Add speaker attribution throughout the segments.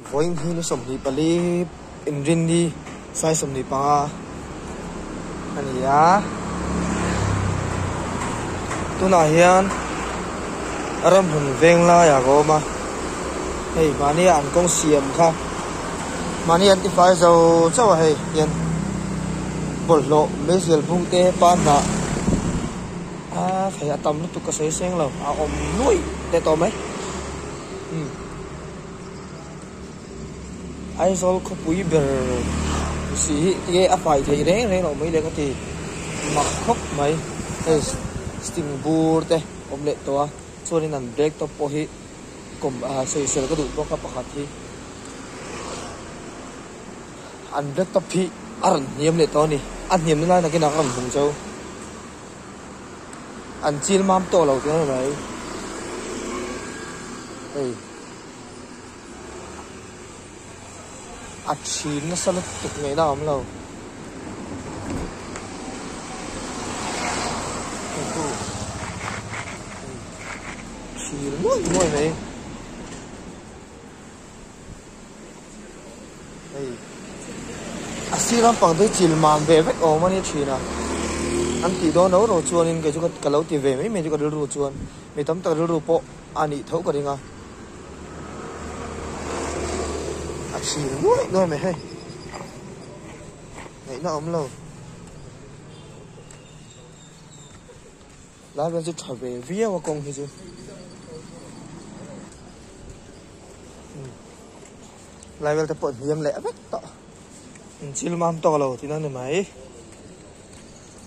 Speaker 1: Vawiin hi nu sawmhnih pali Inrinni sai sawmhnih panga a ni a, tunah hian a rawn hun veng lai ak a awm a, hei mahni an kawng siam kha mahni an tifai zo chauh a hei hian bawlhhlawh Meizual hmung te pan hnah aa hei a tam lutuk ka sawi seng lo a awm nuaih leh tawh mai. Aizawl khawpui ber si hi nge a fai theih reng reng loh mai le ka ti mak khawp mai hei sting bur te awm leh tawh a chuanin an bag te pawh hi kawm ah sawisel ka duh bawk a pakhat hi an bag top hi a rawn hniam leh tawh a ni a hniamna lai nakin ah ka rawn hmu chau an chil mam tawh lo te mai hei. a chhin nasa lutuk mai la awm lo chhil muai muai mai hei a sir lampang te chil mam ve vek awm a ni thin a an tih dawn ro ro chuan in kei chu ka lo ti ve mai mai chu ka rilru chuan mi tam tak rilru pawh A nih tho ka ring a. A chhing nuai nuai mai hei. Ngaihna a awm lo. Lai vel chu tha ve viau a kawng hi chu. Hmm. Lai vel te pawh hniam leh vek tawh. Inchil mam tawk lo tina ni mai.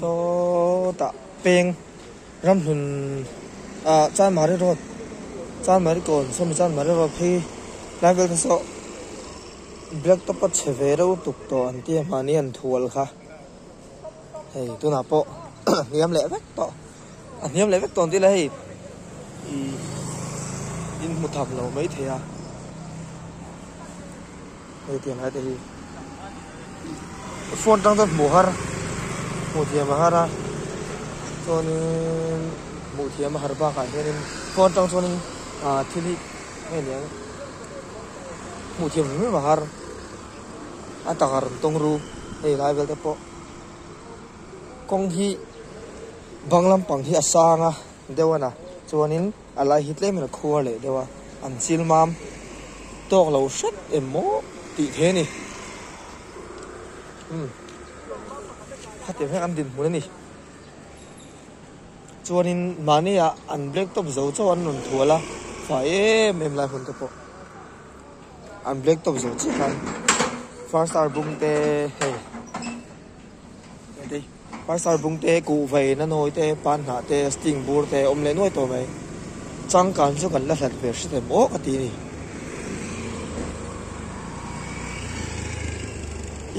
Speaker 1: Saw tah peng ramhlun ah Chanmari road Chanmari kawn sawmi Chanmari road hi lai vel te saw black top a chhe ve reuh tuk tawh an tia mahni an thu alh kha hei tunah pawh a hniam leh vek tawh a hniam leh vek tawh ang tih ila hei ih in hmu tham lo mai thei a. hei tiang hate hi phone tang chuan hmuh har hmuh thiam a har a chuanin hmuh thiam a har bakah hianin phone tang chuanin ah thil hi nge niang hmuh thiam hlim hlim a har a tak a rawn tawng ru hei lai vel te pawh kawng hi bang lampang hi a sang a deuh a na chuanin. A lai hi tlem in a khuar leh deuh a, an chil mam tawk lo hret em maw tih theih a ni. Umm, khatiang hian an dinhmun a ni. Chuanin mahnia an blacktop zo chauh an rawn thual a, fai em em lai hunte pawh an blacktop zo chiah khan. First hour bum te hei. Paisar bung te, kuh vei, na nawi te, pan hnah te, sting bur te awm leh nuai tawh mai. Changkan chu kan la hlat ve hre thei maw ka ti ni.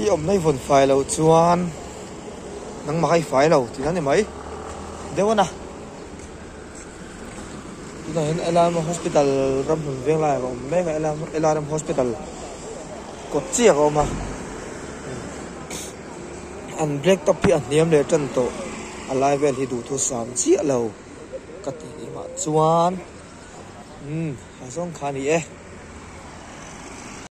Speaker 1: I awmna i vawn fai lo chuan nangmah kha i fai lo tina ni mai. Deuh a na. Tunah hian LRM Hospital ramhlun veng laiah ka awm mek a, LRM Hospital kawt chiah ka awm a. an break up hi a hniam leh ṭan tawh, a lai vel hi duhthur sam chiah lo ka ti leh mah chuan, Umm, a zawng kha a ni e.